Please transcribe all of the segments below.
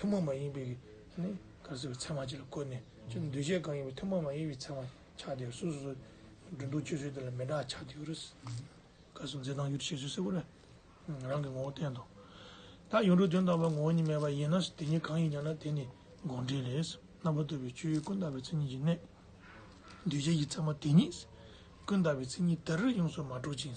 ཐུན་མོང་མ་ཡིན་པའི་ནི། གར་སེར་བའི་མཚན་མ་གཅིག་ལ་བཀོད་ནས། ཅི་འདོད་བྱས་གང་ཡིན་པའི་ཐུན་མོང་མ་ཡིན་པའི་མཚན་མ་ཆགས་དེ་སོ་སོ་སོའི། འགྲོ་འདུག་སྤྱོད་ཚུལ་དེ་ལ་མི་འདྲ་ཆགས་དེའོ། བཀའ་སྲུང་མཛད་དང་ཡུལ་བྱེད་ཚུལ་སེར་པོ་ལས། རང་གི་ངོ་བོ་བསྟན་ཏོ། ད་ཡུལ་འགྲོ་དོན་དམ་པར་ངོ་བོ་ཉིད་མེད་པ་ཡིན་ན་དེ་ཉིད་གང་ཡིན་ཀྱང་ན་དེ་ནི་དགོངས་འགྲེལ་ལས། རྣམ་པར་གཏོད་པའི་སྤྱོད་ཡུལ་ཀུན་བརྟགས་པའི་མཚན་ཉིད་ཀྱི་གནད། འདོད་བྱེད་ཀྱི་མཚན་མ་དེ་ཉིད། ཀུན་བརྟགས་པའི་མཚན་ཉིད་དེར་ཡོངས་སུ་མ་གྲུབ་ཅིང།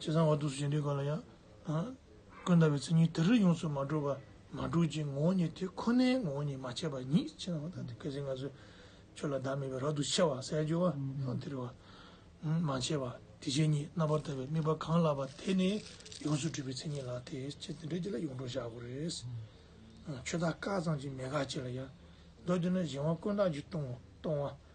ཅེས་གསང་བ་ཐུགས་སུ་བྱིན་གྱིས་བསྐོར་ལ་ཡང། ཀུན་ད་བའི་མཚན་ཉིད་དེ་རིགས་ཡོངས་སུ་མ་གྲུབ་པ། མ་གྲུབ་ཅིང་ངོ་བོ་ཉིད་དེ་ཁོ་ནའི་ངོ་བོ་ཉིད་མ་ཆད་པ་ཉིད་ཅེས་གསང་བ་ཐུགས་སུ་བྱིན་གྱིས་བསྐོར་ལ། ཁྱོད་ལ་བདག་མེད་པའི་རབ་ཏུ་ཕྱེ་བ་གསལ་བརྗོད་བ། དེ་རུ་བ། མ་ཕྱེ་བ། དེ་བཞིན་ཉིད་རྣམ་པར་དག་པའི་དམིགས་པ་གང་ལགས་པ་དེ་ནི་ཡོངས་སུ་གྲུབ་པའི་མཚན་ཉིད་ལགས་ཏེ། ཅེས་དེ་འདྲའི་རྒྱུད་ལ་ཡོངས་གྲུབ་བཞག་གོ། རེས་འགའ། ཆོས་བདག་བཀའ་གཙང་ཅིང་མེད་དགག་ཅེས་ལ་ཡང། མདོ་དེ་ནི་གཞན་དབང་ཀུན་བཏགས་ཀྱི་སྟོང་བ།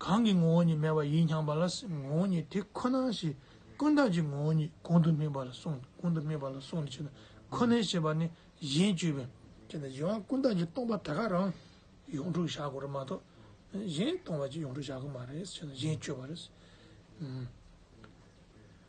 གང་གི་ངོ་བོ་ཉིད་མེད་པ་ཡིད་མྱངས་པ་ལ་ངོ་བོ་ཉིད་དེ་ཁོ་ན་ཞེས་ཀུན་བརྟགས་ཀྱི་ངོ་བོ་ཉིད་གོང་དུ་སྨོས་པ་ལ་སོགས་ནས་ཅེས་པ་ཁོ་ནའི་ཞེས་པ་ནི་གཞན་བཅོས་པའི། ཅེས་པའི་གཞན་དབང་ཀུན་བརྟགས་ཀྱི་སྟོང་པ་དེ་ག་རང་ཡོངས་གྲུབ་བྱ་དགོས་རེད་མ་གཏོགས་གཞན་སྟོང་པ་ཅིག་ཡོངས་གྲུབ་བྱ་དགོས་མ་རེད་ཅེས་ན་གཞན་བཅོས་པ་རེད།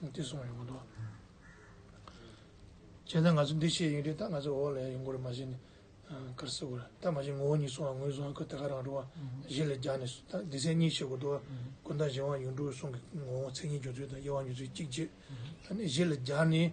འདི་སོང་ཡོང་དོ། བྱས་ཙང་ང་ཚོ་འདི་བྱས་ཡིན་རེད་ད་ང་ཚོ་འོག་ལས་ཡོང་གོ་རེད་མ་བྱས་ནས་གར་སེ་གོ་རེད་ད་མ་བྱས་ངོ་བོ་ཉིད་སོང་བ་ངོས་བཟུང་ཁོས་དེ་ག་རང་འགྲོ་བ་གཞི་ལས་རྒྱག་ནས་ད་འདི་ཚན་གཉིས་བྱེད་དགོས་འདུག་ཀུན་ད་གཞན་དབང་ཡུལ་འགྲོ་བའི་གསུང་གི་ངོ་བོ་མཚན་ཉིད་འབྱུང་ཚུལ་དང་དབྱེ་བ་ཉོ་ཚུལ་གཅིག་བྱེད་ད་ནས་གཞི་ལས་རྒྱག་ནས།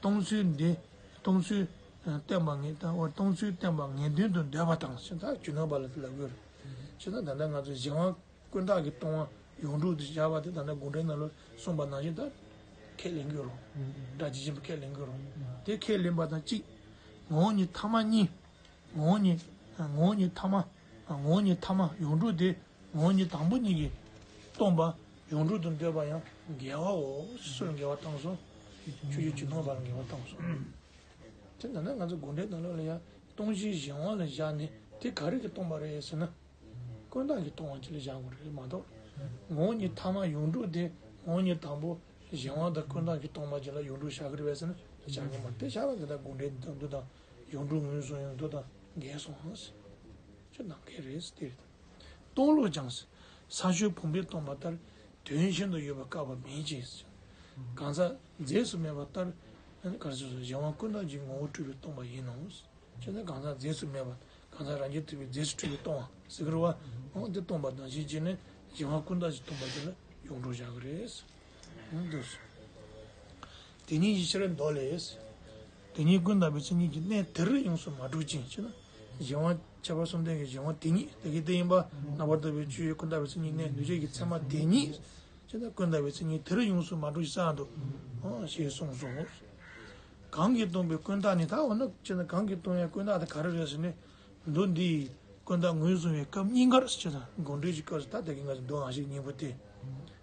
གཏོང་ཚུལ་འདི་གཏོང་ཚུལ་བསྟན་པ་ངེས་དང་བར་གཏོང་ཚུལ་བསྟན་པ་ངེས་དོན་དུ་འདོད་པ་དང། ཕྱི་ཐག་ཇུས་གནང་བ་ལ་ལབ་གྱུར། ཕྱི་ཐག་ད་ལྟ་ང་ཚོས་གཞན་དབང་དཀོན་དག་གིས་གཏོང་དབང་ཡོངས་གྲུབ་ཏུ་བཞག་པ་དེ་ད་ལྟ་དགོངས་འགྲེལ་ནང་ལོ་གསུམ་པ་ནང་བཞིན་དག་ཁས་ལེན་གྱི་རུང། སྒྲ་ཇི་བཞིན་པ་ཁས་ལེན་གྱི་རུང། དེ་ཁས་ལེན་པ་དང་གཅིག། ངོ་བོ་ཉིད་ཐ་མ་གཉིས། ངོ་བོ་ཉིད་ངོ་བོ་ཉིད་ཐ་མ། ངོ་བོ་ཉིད་ཐ་མ་ཡོངས་གྲུབ་དེ་ངོ་བོ་ཉིད་དང་པོ་གཉིས་ཀྱིས་སྟོང་པ། ཡོངས་གྲུབ་ཏུ་འདོད་པ་ཡང་འགལ་བའོ། སུ་ལ་འགལ་བ་བཏང་སོང། ཆོས་རྒྱུད་ཀྱི་ནོར་བར་འགལ་བ་བཏང་སོང། དེ་ན་ན་ང་ཚོ་དགོན་གྲལ་དང་ལོགས་ལ་ཡང་སྟོང་ཆེན་བཞེངས་དབང་ལ་བཞག་ནས་དེ་ག་རེ་གི་སྟོང་པ་རེད་ཟེར་ན། དཀོན་བརྟགས་ཀྱི་སྟོང་དབང་ཅིག་ལ་བཞག་དགོས་རེད་མ་གཏོགས། ངོ་གཉིས་ཐ་མ་ཡོངས་གྲུབ་དེ་ངོ་གཉིས་དང་པོ་བཞེངས་དབང་དང་དཀོན་བརྟགས་ཀྱི་སྟོང་པ་ཅིག་ལ་ཡོངས་གྲུབ་བཞག་གི་རེད་བས་ཟེར་ན་བཞག་མཁན་མ་རེད་དེ་བཞག་ན་དེ་དག་དགོན་གྲལ་འདི་དག་འདུ་དང་ཡོངས་གྲུབ་ངོས་བཟུང་ཡོང་འདུ་དང་འགལ་སོང་ཟེར། ཆོས་དང་འགལ་རེད་ཟེར་དེ་རེད། སྟོང་བློ་སྦྱངས། ས་ཆུ་བུམ་པས་སྟོང་པ་ལྟར། དོན་གཞན་དུ་ཡོད་པར་བཀག་པ་མེད་ཅེས། གང་ཟག་རྫས་སུ་མེད་པ་ལྟར། གཞན་དབང་ཀུན་བརྟགས་ཀྱི་ངོ་བོ་སྤྲུལ་པས་སྟོང་པ་ཡིན་ནོ། གང་ཟག་རྫས་སུ་མེད་པ། གང་ཟག་རང་རྒྱལ་ཐུབ་པའི་རྫས་སུ་སྤྲུལ་པས་སྟོང་བ། འདི་སྟོང་པ་དང་གཞི་གཅིག་ནི། གཞན་དབང་ཀུན་བརྟགས་ཀྱིས་སྟོང་པ་དེ་ལ་ཡོངས་གྲོགས་བྱ་དགོས། དེ་ཉིད་ཡིད་ཕྱིར་འདོར་ལས། དེ་ཉིད་ཀུན་བརྟགས་པའི་མཚན་ཉིད་ཀྱི་གནས་དེར་ཡོངས་སུ་མ་གྲུབ་ཅིང་ཕྱི་ན་གཞན་དབང། ཁྱད་པར་གསུམ་ལྡན་གྱི་གཞན་དབང་དེ་ཉིད་དེ་གའི་དེ་ཡིན་པ་ན་བར་དོ་བའི་ཆོས་ཀུན་བརྟགས་པའི་མཚན་ཉིད་གནས་འདུས་བྱས་ཀྱི་མཚན་མ་དེ་ཉིད། ཕྱི་ན་ཀུན་བརྟགས་པའི་མཚན་ཉིད་དེར་ཡོངས་སུ་མ་གྲུབ་ཅིང་བསལ་འདུག། ཞེས་གསུངས་སོ། གང་གིས་སྟོང་པའི་ཀུན་བརྟགས་ནི་ད་འོ་ན་ཕྱི་ན་གང་གིས་སྟོང་ཡང་ཀུན་བརྟགས་དེ་ག་རེ་རེད་ཟེར་ནས། མདོ་འདི་ཡིས་ཀུན་བརྟགས་ངོས་བཟུང་བའི་སྐབས་སྙིང་གར་ཕྱི་ན་དགོངས་འགྲེལ་གྱི་སྐབས་སུ་ད་ལྟ་གི་ང་ཚོའི་མདོའང་ཞིག་སྙིང་པོ་སྟེ།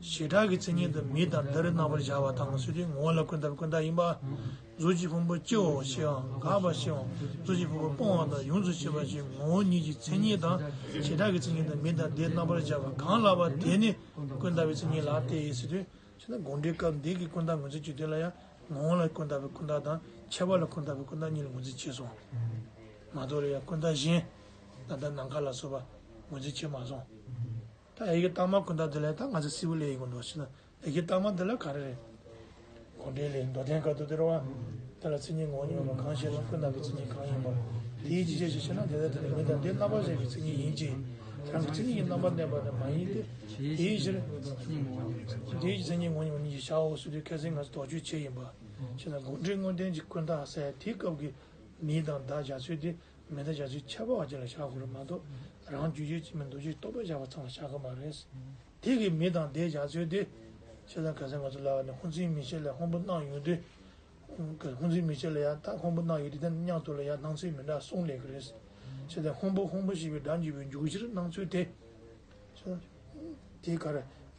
བྱེ་བྲག་གི་མཚན་ཉིད་དུ་མི་དང་འདི་རི་རྣམ་པར་བཞག་པ་དང་ཚུལ་ཁྲིམས་ངོ་བོ་ལ་ཀུན་བཏགས་པའི་ཀུན་བཏགས་ཡིན་པ། གཟུགས་ཀྱི་ཕུང་པོ་སྐྱེ་བའོ་ཞེས་འང་དགག་པར་བྱེད། གཟུགས་ཀྱི་ཕུང་པོ་སྤོང་བ་དང་ཡོངས་སུ་ཤེས་པ་ཞེས་ངོ་བོ་ཉིད་ཀྱི་མཚན་ཉིད་དང་བྱེ་བྲག་གི་མཚན་ཉིད་དུ་མི་དང་འདི་རྣམ་པར་བཞག་པ་གང་ལགས་པ་དེ་ནི་ཀུན་བཏགས་པའི་མཚན་ཉིད་ལགས་ཏེ། དགོངས་འགྲེལ་སྐབས་འདི་གའི་ཀུན་བཏགས་ངོས་འཛིན་གྱི་དོན་ལ་ཡང་ངོ་བོ་ལ་ཀུན་བཏགས་པའི་ཀུན་བཏགས་དང་ཁྱད་པར་ལ་ཀུན་བཏགས་པའི་ཀུན་བཏགས་གཉིས་ལ་ངོས་འཛིན་བྱས་སོང། མ་རྡོ་རི་ཡང་ཀུན་བཏགས་གཞན། ད་ལྟ་ནམ་མཁའ་ལ་སོགས་པ་ངོས་འཛིན་བྱས་མ་སོང། ད་ཨེ་གི་རྟགས་མ་ཀུན་ད་དེ་ལས་ད་ང་ཚོ་སིལ་བུ་ལས་ཡིན་གོ་འགྲོ་བྱེད་ན་ཨེ་གི་རྟགས་མ་དེ་ལ་ག་རེ་རེད། གོ་འདྲེ་ལས་མདོ་བསྟན་ག་དུ་དེར་བ། དེ་ལ་མཚན་ཉིད་ངོ་བོ་ཉུང་བ་གང་ཞེས་ན་ཀུན་ད་ཀྱི་མཚན་ཉིད་གང་ཡིན་པ། དེའི་ཅི་བྱེད་ཅེས་ཤེ་ན་དེ་ལྟ་དེ་ལ་མི་དང་དེའི་རྣམ་པར་ཤེས་པའི་མཚན་ཉིད་ཡིན་གྱི། རང་གི་མཚན་ཉིད་ཀྱི་རྣམ་པར་གནས་པ་ནི་མ་ཡིན་ཏེ། དེའི་ཕྱིར། དེའི་མཚན་ཉིད་ངོ་ཉུང་བ་ཉིད་ཅེས་བྱའོ་ཟེར་དུས་སྐད་ཟེར་ང་ཚོ་དོགས་དཔྱོད་བྱེད་ཡིན་པ། ཤེ་ན་དགོངས་འགྲེལ་དངོས་བསྟན་གྱི་ཀུན་ད་གསལ་དེ་སྐབས་ཀྱི་མི་དང་བདག་བཞག་ཚུལ་དེ་མེ་ད་བྱ་ཚུལ་ཁྱད་པར་བ་ཅིག་ལ་བཞག་དགོས་པ་མ་གཏོགས་རང་རྒྱུད་རྗོད་ཀྱི་མིན་འདུག་ཅེས་རྟོག་པས་བཞག་པ་ཚང་ལ་བཞག་དགོས་མ་རེད། དེ་གིས་མི་དང་དེའི་བཞག་ཚུལ་དེ། ཁྱེད་རང་གལ་སྲིད་ང་ཚོ་ལ་ནི་ཧུན་ཙིའི་མི་ཆེ་ལ་ཧོང་པོ་གནང་ཡོད་དུས། གལ་སྲིད་ཧུན་ཙིའི་མི་ཆེ་ལ་ཡང་དག་ཧོང་པོ་གནང་ཡོད་དུས་དེ་ནི་སྙང་ཐོག་ལ་ཡང་སྣང་ཚུལ་མི་འདྲ་གསུངས་ལེ་གི་རེད། ཁྱེད་རང་ཧོང་པོ་ཧོང་པོ་ཞེས་པའི་སྒྲ་འཇུག་པའི་འཇུག་གཞིར་སྣང་ཚུལ་དེ། དེ་གར་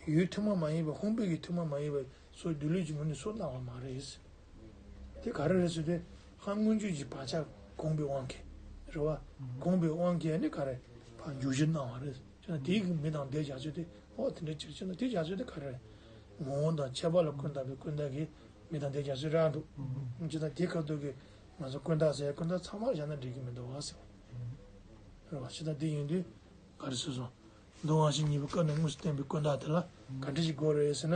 ཡུལ་ཐུན་མོང་མ་ཡིན་པ་ཧོང་པོའི་ཡུལ་ཐུན་མོང་མ་ཡིན་པ་སོགས་སྒྱུ་ལུས་ཀྱི་ངོས་ནས་སོ་སྣང་བ་མ་རེད། དེ་ག་རེ་རེད་ཟེར་དུས་ཧང་མངོན་བརྗོད་ཀྱི་བག་ཆགས་གོམས་པའི་དབང་གིས་རེད་བ། གོམས་པའི་དབང་གིས་ནི་ག་རེ་བར་འཇུག་གཞིར་སྣང་བ་རེད་ཅེ་ན་དེའི་མི་དང་དེའི་བྱ་སྤྱོད་དེ་འོ་དེ་འདྲའི་ཕྱིར་ཅེ་ན་དེའི་བྱ་སྤྱོད་དེ་ག་རེ་རེད། ངོ་བོ་དང་ཁྱད་པར་ལ་ཀུན་བརྟགས་པའི་ཀུན་བརྟགས་ཀྱིས་མི་དང་དེའི་བྱ་སྤྱོད་རགས་འདུག་ཅེ་ན་དེ་ག་དུས་ཀྱི་ང་ཚོ་ཀུན་བརྟགས་ཟེར་ཀུན་བརྟགས་ཚང་མར་བཞག་ན་འགྲིག་གི་མི་འདུག་བ་ཟེར་བ་རེད་བ། ཅེ་ན་དེ་ཡིན་དུས་ག་རེ་བཟོས་སོང། མདོ་དབང་བཞི་གཉིས་པའི་སྐབས་ནས་དངོས་སུ་བསྟན་པའི་ཀུན་བརྟགས་དེ་ལ་ག་འདྲི་ཞིག་དགོས་རེད་ཟེར་ན།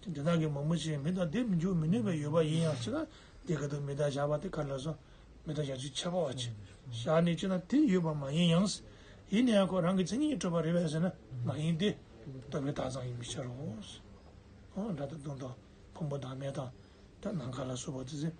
དེ་དེ་དག་གི་མང་པོ་ཆེའི་མི་དང་དེ་མི་འཇུག་མི་ནུས་པའི་ཡོད་པ་ཡིན་ཡང་སྲིད་ན་དེ་ག་དུ་མི་དག་བཞག་པ་དེ་ག་ལ་སོགས་མི་དག་བཞག་ཚུལ་འཆད་པའོ། བཞག་ནས་ཅི་ན་དེ་ཡོད་པ་མ་ཡིན་ཡང་སྲིད། ཡིན་ན་ཡང་ཁོ་རང་གི་མཚན་ཉིད་སྤྲོས་པ་རེད་བས་ཟེར་ན་མ་ཡིན་ཏེ། ལྟོས་པའི་དག་ཙམ་ཡིན་པའི་ཕྱིར་རོ། སྒྲ་དང་དོན་དང་ཕུང་པོ་དང་མེ་དང། དེ་རྣམས་ག་ལ་སོགས་པ་དེ་ཟེར།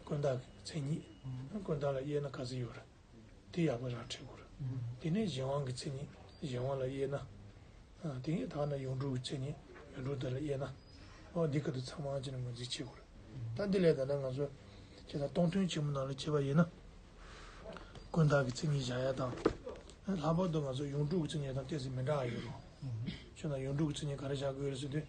དཀོན་བདག་གི་མཚན་ཉིད། དཀོན་བདག་ལ་དབྱེ་ན་ཀ་ཟི་ཡོ་ར། དེ་ཡག་པོ་ར་ཁྲེ་གུ་ར། དེ་ནས་གཞན་དབང་གི་མཚན་ཉིད་གཞན་དབང་ལ་དབྱེ་ན། དེ་ཡི་དག་ན་ཡུངས་འབྲུ་གི་མཚན་ཉིད་ཡུངས་འབྲུ་དེ་ལ་དབྱེ་ན། འོ་འདི་ག་དུ་ཚང་མ་ཨང་ཅི་ན་ངོས་འཛིན་བྱེད་དགོས་རེད། ད་འདི་ལས་ད་ནས་ང་ཚོས་ཇི་ལྟར་སྟོང་ཐུན་ཆེན་མོ་ནང་ལ་བྱེད་པ་ཡིན་ན། དཀོན་བདག་གི་མཚན་ཉིད་བཞག་ཡ་དང། ལྷག་པར་དུ་ང་ཚོ་ཡུངས་འབྲུ་གི་མཚན་ཉིད་དང་གཏད་ཚིག་མི་འདྲ་བ་ཡོད་རུང། ཆོས་ན་ཡུངས་འབྲུ་གི་མཚན་ཉིད་ག་རེ་བཞག་དགོས་རེད་ཟེར་དུས།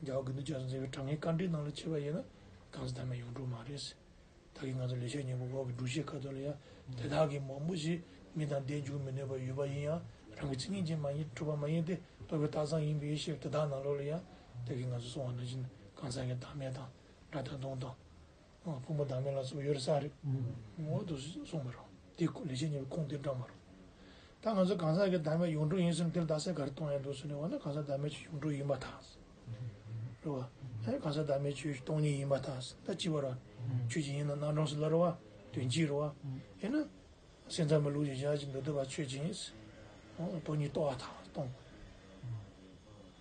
རྒྱ་བོད་དགུན་དུ་རྒྱ་བཟའ་མཛད་པའི་དྲང་ངེས་བཀའ་འགྲེལ་ནང་ལ་ཕྱེས་པ་ཡིན་ན་དྭགས་སུ་དར་མའི་ཡོངས་གྲུབ་མ་རེད། ད་གིན་ང་ཚོ་ལས་ཤག་གཉིས་པོ་འོག་གི་སྒྲུབ་བྱེད་ཁ་ཐོར་ལ་ཡང་དེ་དག་གིས་མང་པོ་ཞིག་མི་དང་ལྡན་འཇུག་མི་ནུས་པ་ཡོད་པ་ཡིན་ཡང་རང་གི་ཚིག་ངན་ཅན་མ་ཡིན་གྲུབ་པ་མ་ཡིན་ཏེ་རྟོགས་པའི་རྟགས་བཟང་ཡིན་པའི་ཡེ་ཤེས་དེ་དག་ནང་ལོགས་ལ་ཡང་ད་གིན་ང་ཚོ་སྲོང་བ་ན་བཞིན་གང་ཟག་གི་བདག་མེད་དང་དགྲ་དང་གདོན་དང། ཕུང་པོ་བདག་མེད་ལ་སོགས་ཡོད་རེད་བསམ་རེད། མོད་དུ་སོང་མི་རུང། དེ་ལས་བྱེད་ཉེ་བའི་ཁུངས་དེ་འདྲ་མ་རུང། ད་ང་ཚོ་གང་ཟག་གི་བདག་མེད་ཡོངས་གྲུབ་ཡིན་ཟེར་ན་དེ་ལ་བདག་སྲས་ག་རེ་གཏོང་ཡ་འདུག་ཟེར་ནས་འོ་ན་གང་ཟག་བདག་མེད་ཆོས་ཡོངས་གྲུབ་ཡིན་མ་ཐག། རེད་བ། ཨེ་གང་ཟག་བདག་མེད་ཆོས་སྟོང་ཉིད་ཡིན་མ་ཐག་ད་ཅི་བར་བ། ཆོས་ཇི་ཡིན་ན་སྣང་གྲོང་སུ་སླར་བ། དོན་གྱིས་རུ་བ། ཨེ་ན། སེམས་ཙམ་པའི་ལུགས་ཀྱི་བཞག་ཅིང་མདོ་སྡེ་པ་ཆོས་ཇི་ཡིན། སྟོང་ཉིད་རྟོགས་བ་ཐག་སྟོང།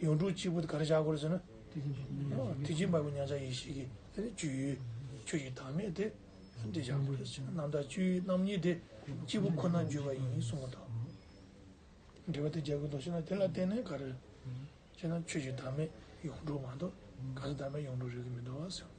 ཡོངས་གྲུབ་སྤྱི་བོ་དེ་ག་རེ་བྱ་དགོས་ཟེར་ན། ཐུགས་རྗེ་འབར་བའི་མཉམ་བཞག་ཡེ་ཤེས་ཀྱི་བཅུད། ཆོས་ཀྱི་བདག་མེད་དེ་འདི་བྱ་དགོས་ཟེར་ན་རྣམ་དག་བཅུའི་རྣམ་གཉིས་དེ་གཅིག་པུ་ཁོ་ན་བརྗོད་པ་ཡིན་གསུང་བ་དང། འབྲེལ་བ་དེ་རྒྱག་དགོས་འདུག་ཤེ་ན་དེ་ལ་བརྟེན་ནས་ག་རེ། ཅེ་ན་ཆོས་ཀྱི་བདག་མེད་ཡོངས་གྲུབ་མ་གཏོགས་གང་ཟག་བདག་མེད་ཡོངས་གྲུབ་རེག་གི་མི་འདུག་ཟེར།